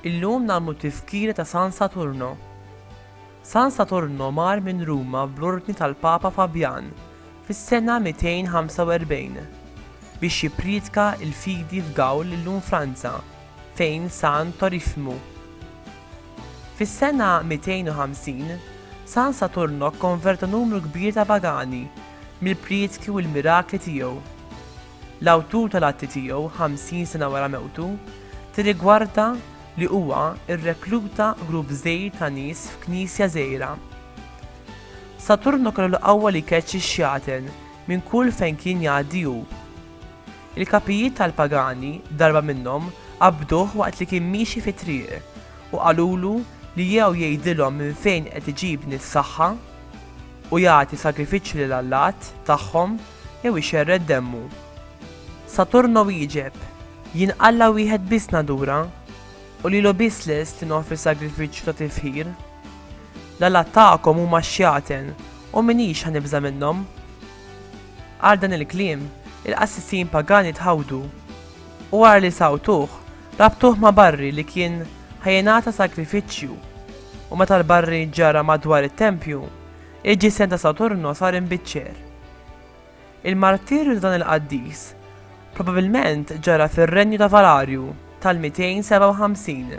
Illum nagħmlu tifkira ta' San Saturno. San Saturno mar minn Ruma bl-ordni tal-Papa Fabjan fis-sena 245 biex jippriedka l-fidi f'Gawl illum Franza fejn San Torifmu. Fis-sena 250, San Saturno kkonverta numru kbir ta' pagani mill-prietki u l-mirakli tiegħu. L-awtur tal-atti tiegħu, ħamsin sena wara mewtu, tirrigwarda li huwa rrekluta grupp żgħir ta' nies f'knisja żgħira. Saturno kellu l-qawwa li jkeċċi x-xjaten minn kull fejn kien jgħaddi hu. Il-kapijiet tal-pagani, darba minnhom, qabduh waqt li kien miexi fit-triq, u qalulu li jew jgħidilhom minn fejn qed iġib din is-saħħa, u jagħti sagrifiċċju lil allat tagħhom, jew ixerred demmu. Saturno wieġeb, Jien Alla wieħed biss nadura, u lilu biss lest li noffri sagrifiċċju ta' tifħir. L-allat tagħkom huma x-xjaten, u m'iniex ħa nibża' minnhom. Għal dan il-kliem, il-qassisin pagani tħawdu, u wara li sawtuh, rabtuh ma' barri li kien ħa jingħata sagrifiċċju, u meta l-barri ġġarra madwar it-tempju, il-ġisem ta' Saturno sar imbiċċer. Il-martirju ta' dan il-qaddis probabbilment ġara fir-renju ta' Valarju tal-257.